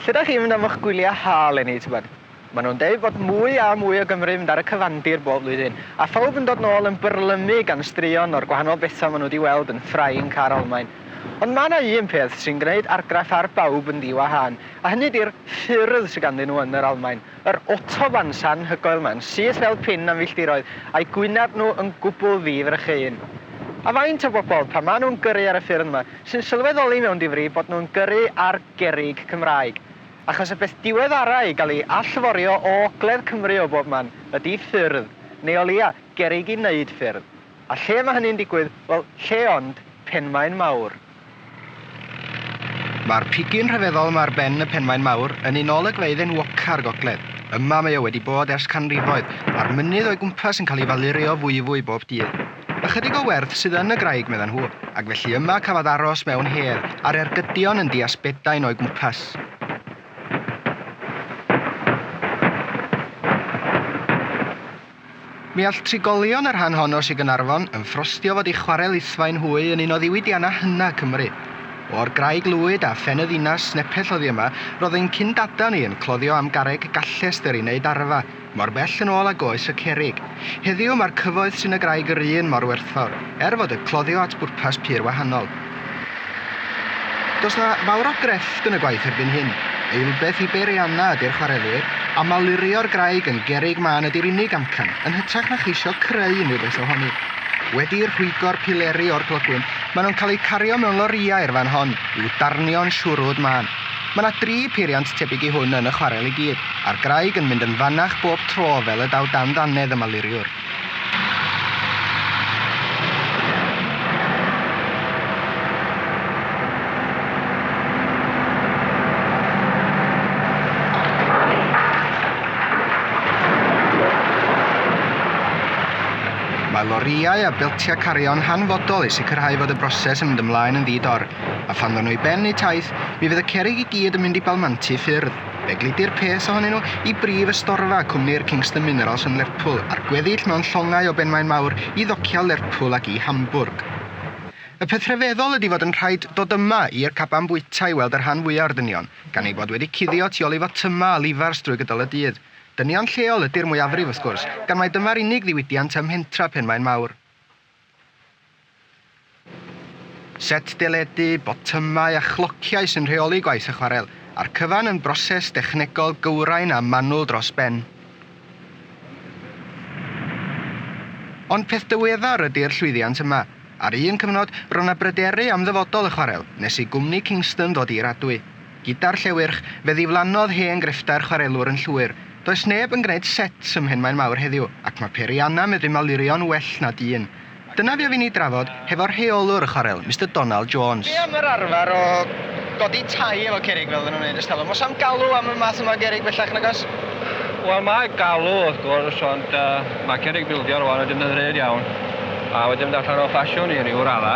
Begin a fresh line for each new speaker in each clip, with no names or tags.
Lle dach chi'n mynd am y'ch gwyliau ha eleni, tybed? Maen nhw'n deud bod mwy a mwy o Gymry yn mynd ar y cyfandir bob blwyddyn, a phawb yn dod nôl yn byrlymu gan straeon o'r gwahanol bethau maen nhw wedi weld yn Ffrainc a'r Almaen. Ond mae yna un peth sy'n gwneud argraff ar bawb yn ddi-wahân, a hynny ydy'r ffyrdd sydd ganddyn nhw yn yr Almaen. Yr autobahns anhygoel yma, yn syth fel pin am filltiroedd, a'u gwyneb nhw yn gwbl ddi-frycheuyn. A faint o bobl, pan maen nhw'n gyrru ar y ffyrdd yma, sy'n sylweddoli mewn difri bod nhw'n gyrru ar gerrig Cymraeg, achos y peth diweddara' i gael ei allforio o ogledd Cymru o bob man ydi ffyrdd, neu o leia', gerrig i 'neud ffyrdd. A lle mae hynny'n digwydd? Wel, lle ond, Penmaen Mawr. Mae'r pigyn rhyfeddol yma ar ben y Penmaen Mawr yn un olygfeydd enwoca' o'r gogledd. Yma mae o wedi bod ers canrifoedd, a'r mynydd o'i gwmpas yn cael ei falurio fwyfwy bob dydd. Ychydig o werdd sydd yn y graig, meddan nhw, ac felly yma cafodd aros mewn her a'r ergydion yn dias bedain o'i gwmpas. Mi all trigolion y rhan hon o Sir Gaernarfon yn ffrostio fod ei chwarel ithfaen hwy yn un o ddiwydiannau hyna Cymru. O'r graig lwyd a phen y ddinas nepell oddi yma, roedd ein cyn-dadaw ni yn cloddio am garreg gallest dderi wneud arfa, Mor bell yn ôl ag oes y cerrig. Heddiw mae'r cyfoeth sy'n y graig yr un mor werthfawr, er fod y cloddio at bwrpas pur wahanol. Does 'na fawr o grefft yn y gwaith erbyn hyn. Eilbeth i beirianna ydy'r chwarelwyr, a malurio'r graig yn gerrig mân ydy'r unig amcan, yn hytrach na cheisio creu unrhyw beth ohoni. Wedi rhwygo'r pileri o'r clogwyn, maen nhw'n cael eu cario mewn lorïau i'r fan hon, i'w darnio'n siwrwd mân. Mae 'na dri peiriant tebyg i hwn yn y chwarel i gyd, a'r graig yn mynd yn fanach bob tro fel y daw dan ddannedd y maluriwr. Mae lorïau a beltiau cario'n hanfodol i sicrhau fod y broses yn mynd ymlaen yn ddi-dor, a phan ddawn nhw i ben eu taith, Mi fydd y cerrig i gyd yn mynd i balmanti ffyrdd. Fe gludir pes ohonyn nhw i brif ystorfa cwmni'r Kingston Minerals yn Lerpwl, a'r gweddill mewn llongau o benmaen mawr i ddociau Lerpwl ac i Hamburg. Y peth rhyfeddol ydi fod yn rhaid dod yma i'r caban bwyta i weld y rhan fwya o'r dynion, gan eu bod wedi cuddio tu ol i fotyma a lifars drwy gydol y dydd. Dynion lleol ydi'r mwyafrif, wrth gwrs, gan mai dyma'r unig ddiwydiant ym mhentra Penmaen Mawr. Set deledu, botymau a chlociau sy'n rheoli gwaith y chwarel a'r cyfan yn broses dechnegol gywrain a manwl dros ben. Ond peth diweddar ydi'r llwyddiant yma. Ar un cyfnod, ro'na bryderu am ddyfodol y chwarel, nes i gwmni Kingston ddod i'r adwy. Gyda'r Llewyrch, fe ddiflannodd hen grefftau'r chwarelwr yn llwyr. Does neb yn gwneud sets ym Mhenmaen Mawr heddiw, ac mae Perianna medru malurio'n well na dyn. Dyna fi a fi'n ei drafod hefo'r rheolwr y chwarel, Mister Donald Jones. Dwi am yr arfer o godi tai efo cerrig fel oedden nhw'n neud ers talwm. Oes am galw am y math yma o gerrig bellach nag oes? Wel, mae
galw wrth gwrs, ond mae cerrig bildio rwan yn defnyddiol iawn, a wedi mynd allan o ffasiwn i ryw radda.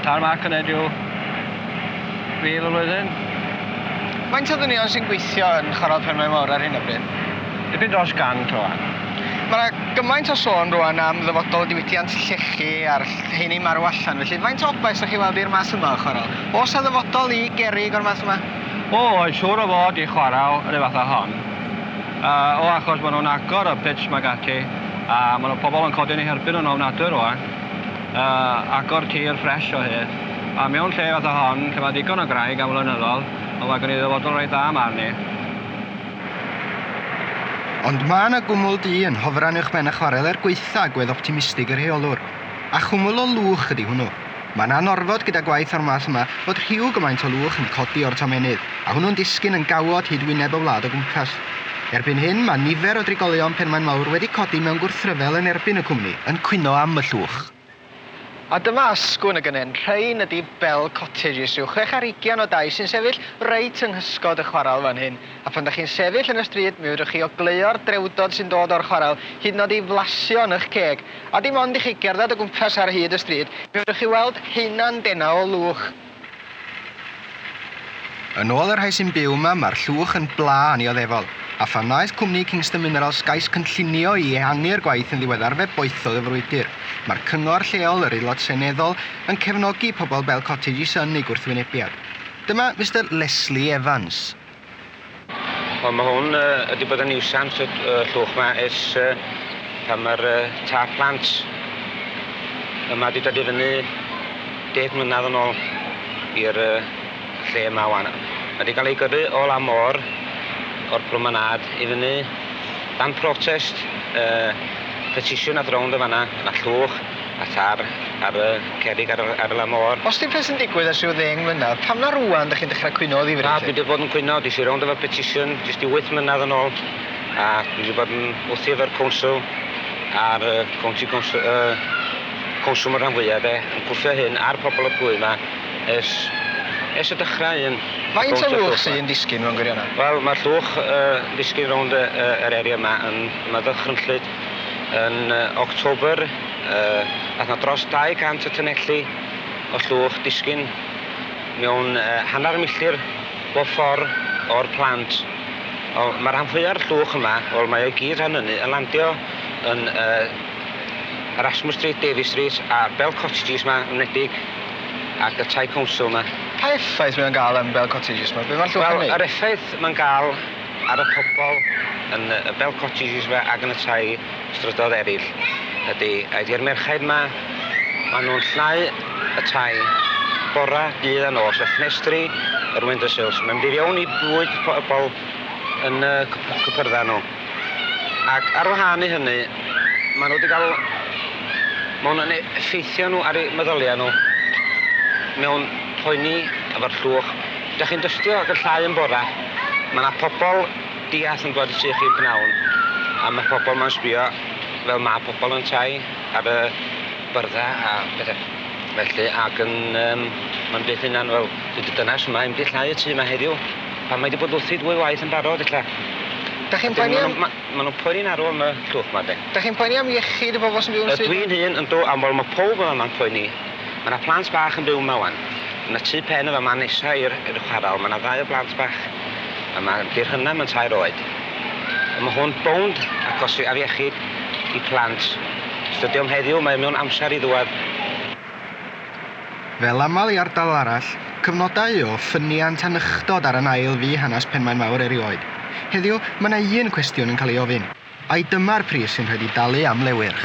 Tarmac yn edryw fil y flwyddyn. Faint
o ddynion sy'n gweithio yn Chwarel Penmaen Mawr ar hyn o bryd? Dipyn dros 100
rwan. Mae 'na
gymaint o sôn rwan am ddyfodol y diwydiant llechi a'r rheini'n marw allan felly faint o obaith 'sa chi'n weld i'r math yma o chwarel? Oes 'na ddyfodol i gerrig o'r math yma? O oes, siŵr o
fod i chwarel yr un fath a hon. Yy o achos ma' nhw'n agor y pits 'ma ag ati a ma' 'na pobl yn codi yn eu herbyn nhw'n ofnadwy rwan. A agor tir ffresh o hyd. A mewn lle fatha hon, lle mae ddigon o graig am flynyddol, wel mae gen i ddyfodol reit dda 'ma arni.
Ond mae 'na gwmwl du yn hofran uwch ben y chwarel er gwaetha' gwedd optimistig y rheolwr. A chwmwl o lwch ydi hwnnw. Mae'n anorfod gyda gwaith o'r math yma fod rhyw gymaint o lwch yn codi o'r tomennydd, a hwnnw'n disgyn yn gawod hyd wyneb y wlad o gwmpas. Erbyn hyn, mae nifer o drigolion Penmaen Mawr wedi codi mewn gwrthryfel yn erbyn y cwmni, yn cwyno am y llwch. A dyma asgwrn y gynnen, rhain ydi Bell Cottages, rhyw chwech ar hugian o dai sy'n sefyll reit yng nghysgod y chwarel fan hyn. A phan 'da chi'n sefyll yn y stryd, mi fedrwch chi ogleuo'r drewdod sy'n dod o'r chwarel, hyd yn o'd i flasio yn 'ych ceg. A dim ond i chi gerdded o gwmpas ar hyd y stryd, mi fedrwch chi weld haena'n dena o lwch. Yn ôl y rhai sy'n byw yma, mae'r llwch yn bla annioddefol, a phan wnaeth cwmni Kingston Minerals gais cynllunio i ehangu'r gwaith yn ddiweddar fe boethodd y frwydr. Mae'r cyngor lleol, yr Aelod Seneddol, yn cefnogi pobl Bell Cottage i synnu gwrthwynebiad. Dyma Mister Leslie Evans.
Wel ma' hwn yy wedi bod yn niwsans y y llwch 'ma ers yy pan ma'r yy tâp plant yma 'di dod i fyny deg mlynadd yn ôl i'r yy lle yma ŵan. Ma' 'di ga'l ei gyrru o lan môr o'r promenâd i fyny dan protest yy petisiwn ath rownd yn fan 'na, ma' 'na llwch A thâr ar y cerrig ar y ar y lan môr. Os dim peth yn digwydd ers rhyw ddeng mlynadd, pam na rŵan dych chi'n dechrau cwyno o ddifri 'lly? Na, dwi 'di bod yn cwyno, des i rownd efo petition jyst ryw wyth mlynadd yn ôl a dwi 'di bod yn wthio efo'r council a'r yy county council yy council 'ma rhan fwya de, yn gwthio hyn ar pobol y plwyf 'ma ers ers y dychra un. Faint o lwch sy yn disgyn mewn gwirionedd? Wel ma'r llwch yy yn disgyn rownd yy yy yr area 'ma yn ma' ddychrynllyd. Yn October, aeth 'na dros 200 o tunnelli o llwch disgyn mewn hanner milltir bob ffor' o'r plant. Ond ma' rhan fwya'r llwch yma, wel mae o i gyd rhan ynny, yn landio yn Erasmus Street, Davies Street a Bell Cottages 'ma yn wledig ac y Tŷ Council 'ma. Pa effaith mae o'n ga'l yn Bell Cottages 'ma? Be' ma'r llwch yn neud? Wel yr effaith ma'n ga'l ar y pobl yn y bell cottages 'ma ac yn y tai strydoedd eraill ydy, a di'r merchaid 'ma, maen nhw'n llnau y tai bora, dydd a nos, y ffenestri, yr window sills. Mae'n mynd i fewn i bwyd pobl yn y cypyrddau nhw. Ac ar wahân i hynny, maen nhw wedi cael... Mae hwnna'n effeithio nhw ar eu meddyliau nhw mewn poeni efo'r llwch Dach chi'n dystio ac yn llai yn bora. Mae yna pobl diall yn dwad i tŷ chi yn pnawn a mae pobl ma'n sbio fel mae pobl yn tai ar y byrdda a pethe felly ac yn yym ma'n byth hunan fel dwi di dynas yma i'm di llai y tŷ yma heddiw pan mae di bod wrthi dwy waith yn barod ella. Dach chi'n poeni am... Ma' ma' nhw'n poeni'n arw am y llwch ma de. Dach chi'n poeni am iechyd y bobl sy'n byw yn y stryd ma? Ydw i'n hun yndw am wel ma' powb yma ma'n poeni. Mae 'na plant bach yn byw 'ma 'wan. Mae 'na tŷ pen yn fama nesa i'r i'r chwarel. Mae 'na ddau o blant bach yma. Yndi Rhynna mae'n tair oed. A ma' hwn bownd agos i afiechyd i plant. Os dydi o'm heddiw mae o mewn amser i ddŵad. Fel aml i ardal arall, cyfnodau o ffyniant a nychdod ar yn ail fu hanes Penmaenmawr erioed. Heddiw, mae 'na un cwestiwn yn cael ei ofyn. Ai dyma'r pris sy'n rhaid i dalu am le wyrch?